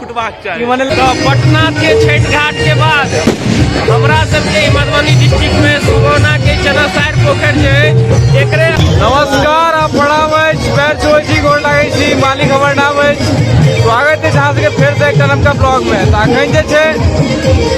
फुटबाक चाही मने पटना के छठ घाट के बाद हमरा सबके मधुबनी डिस्ट्रिक्ट में सुगौना के चनासार पोखर जे एकरे नमस्कार आप प्रणाम अछि पैर छो छी गोर लागै छी मालिक हमर नाम अछि स्वागत अछि अहाँ सबके फेर से एकटा नवका ब्लॉग में तऽ अखन जे छै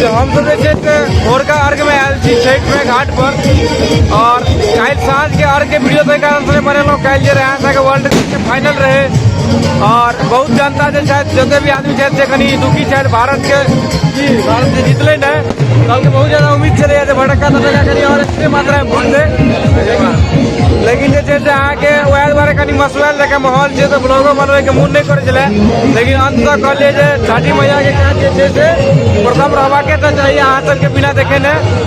से हम सब जे छै से भोरका अर्घ में आयल छी छठ में घाट पर और काल्हि साँझ के अर्घ के वीडियो तय कारण से बनेलहुँ काल्हि जे रहै अहाँके वर्ल्ड फाइनल रहे और बहुत जनता जे छथि जते भी आदमी छथि से कनि दुखी छथि भारत के जी भारत जे जीतले ने कल के बहुत ज्यादा उम्मीद छलै जे भटक्का तटक्का करी और एते मात्रा में वोट दे लेकिन जे छै से अहाँके वएह दुआरे कनि मसुआल जकाँ माहौल छै तऽ ब्लॉगो बनबैके मोन नहि करै छलै लेकिन अंत तक कहलियै जे छठी मैया के काज जे छै से प्रथम रहबाके तऽ चाहिए अहाँ सबके बिना देखेने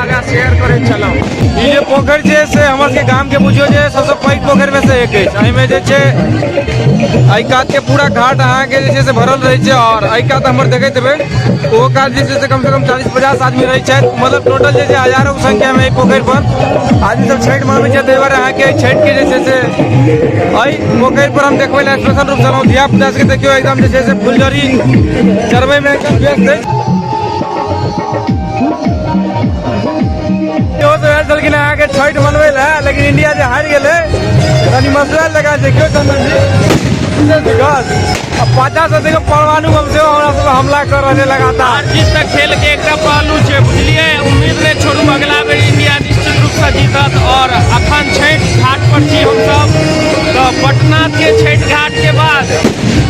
आगा शेयर करे चलो ई जे पोखरि छै से हमर सबके गाम के बुझियो जे सबसँ पैघ पोखरि में से एक अछि एहिमे जे छै एहि कात के पूरा घाट अहाँके जे छै से भरल रहै छै आओर एहि कात हमर देखैत हेबै ओहो कात जे छै से कम से कम चालीस पचास आदमी रहै छथि मतलब टोटल जे छै हजारों के संख्या में एहि पोखरि पर आदमी सब छठि मनबै छथि ताहि दुआरे अहाँके एहि छठि के जे छै से एहि पोखरि पर हम देखबै लए स्पेशल रूप से एलहुँ धिया पुता सबके देखियौ एकदम जे छै से फुलझड़ी चढ़बै में एकदम व्यस्त अछि इहो सब आयल छलखिन अहाँ के छठि मनबै लए लेकिन इंडिया जे हारि गेलै कनि मसला लगा छै केओ चंदन जी विशेष विकास आ पाछा से देखो परमाणु बम सेहो हमरा सब पर हमला कर रहल छै लगातार हार जीत तक खेल के एकटा पहलू छै बुझलिए उम्मीद नहि छोड़ू अगला बेर इंडिया निश्चित रूप से जीतत और अखन छठि घाट पर छी हमसब तऽ पटना के छठि घाट के बाद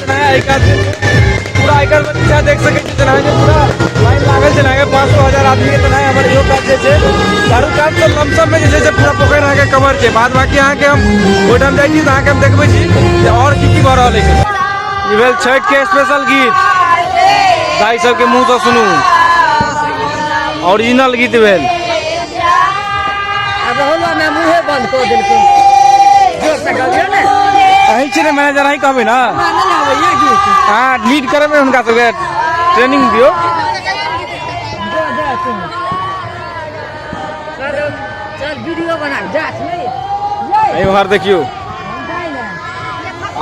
जेना है एक आदमी पूरा आइकर में पीछा देख सके छी जेना है जे पूरा लाइन लागल जेना है पाँच सौ हजार आदमी के जेना है हमर इहो काज जे छै चारू काज से लमसम में जे छै से पूरा पोखरि अहाँके कवर छै बाद बाकी अहाँके हम ओहिठाम जाइ छी तऽ अहाँके हम देखबै छी जे आओर की की भऽ रहल अछि ई भेल छठि के स्पेशल गीत दाई सबके मुँह से सुनू ओरिजिनल गीत भेल अब होला ना मुहे बंद कर देलको जोर से गाबियो ना अही छी ने मैनेजर अही कहबे ना माने ना भैया की हाँ लीड करे में उनका सबके ट्रेनिंग दियो जा जा तू कर चल वीडियो बना जा नहीं जा अही बाहर देखियो जा ना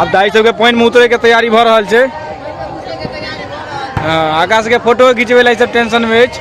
अब दाई सबके पॉइंट में उतरे के तैयारी भऽ रहल छै हाँ, आकाश के फोटो खिंचबे ला ई सब टेंशन में अछि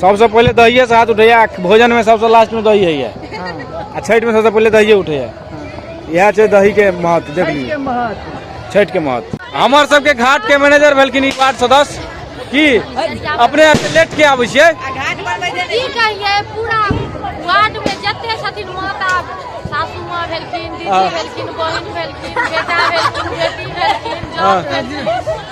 सबसे पहले दहिए से हाथ उठैया भोजन में सबसे लास्ट में दही है आ छठ में सबसे पहले दहिए उठैया इएह छै दही के महत्व देख लियौ छठ के महत्व हमर सबके घाट के मैनेजर भेलखिन ई वार्ड सदस्य की अपने यहाँ से लेट के आबै छियै की कहिए पूरा वार्ड में जते छथिन माता सासू माँ भेलखिन दीदी भेलखिन बहिन भेलखिन बेटा भेलखिन बेटी भेलखिन जौन भेलखिन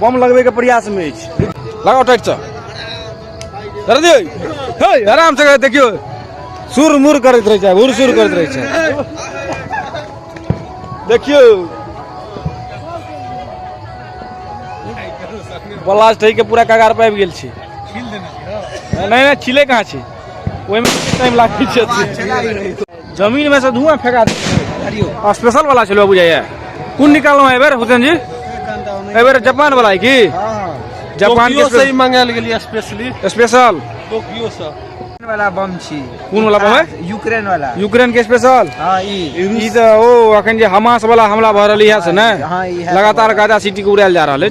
बम लगबैके प्रयासमे अछि लगाउ टाइटसँ धर दियौ हे आरामसँ करै देखियौ सुर मुर करैत रहै छै हुर सुर करैत रहै छै देखियौ ब्लास्ट होइके पूरा कगार पर आबि गेल छी नहीं नहीं छिले कहाँ छी ओहिमे टाइम लागै छै जमीन में से धुआं फेंका दियो स्पेशल वाला छलो बुझाइए कौन निकालो है बेर हुसैन जी ए बेर जापान वाला है की जापान के से मंगाल गेलिए स्पेशली स्पेशल टोक्यो से वाला बम छी कौन वाला बम है यूक्रेन वाला यूक्रेन के स्पेशल हां ई ई तो ओ अखन जे हमास वाला हमला भ रहल है से ना हाँ, लगातार गाजा सिटी के उड़ायल जा रहल है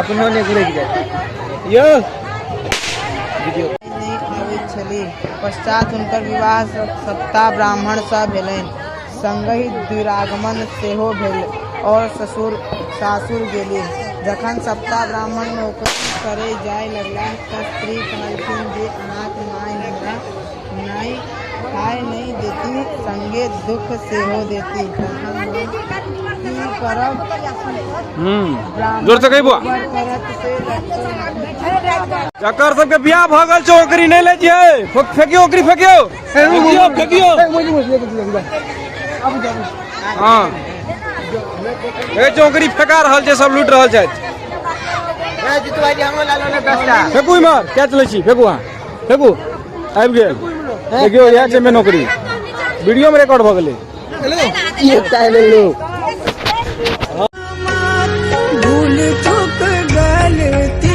अपनो ने घुरे जाए यो वीडियो नहि खाबैत छली पश्चात हुनकर विवाह स- सत्ता ब्राह्मणसँ भेलनि संगहि दुरागमन सेहो भेल और ससुर सासुर गेली जखन सप्ताह ब्राह्मण नौकरी करे जाय लगला तऽ स्त्री कहलखिन जे अनाथ माय हमरा नहि खाय नहि देती संगे दुख सेहो देती की करब जोर से कहिबो करत से जकर सबके बियाह भऽ गेल छै ओकरी नहि ले छियै फक- फेकियो ओकरी फेकियो फेकियो फेकियो हँ ए चौकरी फेका रहल छै सब लूट रहल छथि फेकू इमहर कैच लै छी फेकू अहाँ देखू आबि गेल देखियो इएह छै मे नौकरी वीडियो में रिकॉर्ड भऽ गेलै ये पहले लोग भूल चुक गलती